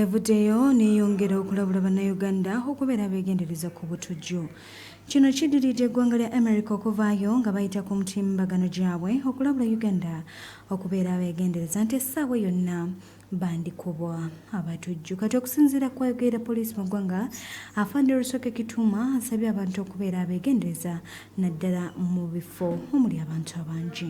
Evuddeyo neyongera okulabula bannayuganda okubeera abegendereza ku butujju. Kino kiddiridde eggwanga lya America okuvaayo nga bayita ku mutimbagano gyabwe okulabula Uganda okubeera abegendereza nti essaawa yonna bandikubwa abatujju. Kati okusinziira ku ayogerera poliisi mu ggwanga Afande Rusoke Kituuma asabye abantu okubeera abegendereza naddala mu bifo omuli abantu abangi.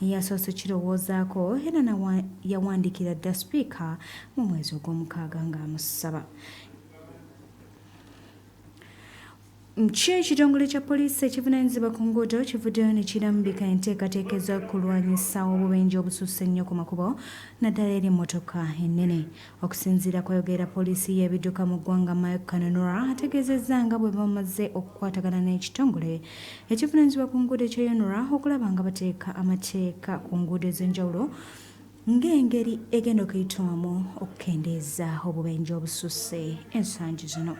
Yasoose kirowoozaako era nawa yawandiikira dda Sipiika mu mwezi ogw'omukaaga ng'amusaba Kyo ekitongole kya poliisi ekivunanyizibwa ku nguudo kivuddeyo ne kirambika enteekateeka ez'okulwanyisa obubenje obususse ennyo ku makubo naddala eri emmotoka ennene. Okusinziira kwayogera poliisi y'ebidduka mu ggwanga Mike Kananura ategeezezza nga bwe bamaze okukwatagana n'ekitongole ekivunaanyizibwa ku nguudo ekyeyonura okulaba nga bateeka amateeka ku nguudo ez'enjawulo ng'engeri egenda okuyitwamu okukendeeza obubenje obususse ensangi zino.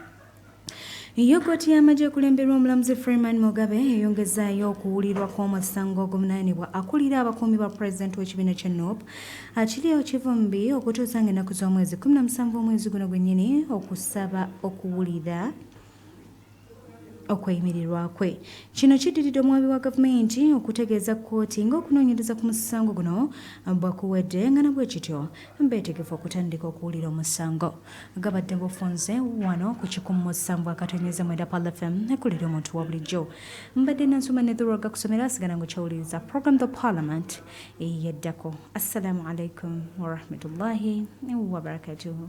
Yo kkooti y'amagye ekulemberwa omulamuzi Freeman Mugabe eyongezaayo okuwulirwa kw'omusango oguvunaanibwa akulira abakuumi ba pulezidenti w'ekibiina kya NOP Achileo Kivumbi okutuusa ng'ennaku z'omwezi 17 omwezi guno gwennyini okusaba okuwulira okweyimirirwa kwe kino kiddiridde omuwabi wa gavumenti okutegeeza kkooti ng'okunoonyereza ku musango guno bwakuwedde nga nabwekityo beetegefu okutandika okuwulira omusango gabadde bufunze wano ku kikumu sambwa akatonyeza mwenda pal fm ekulira omuntu wa bulijjo mbadde nansoma nedhulwaga kusomera asigala nga kyawuliriza program the parliament eyaddako assalamu alaikum warahmatullahi wabarakatuhu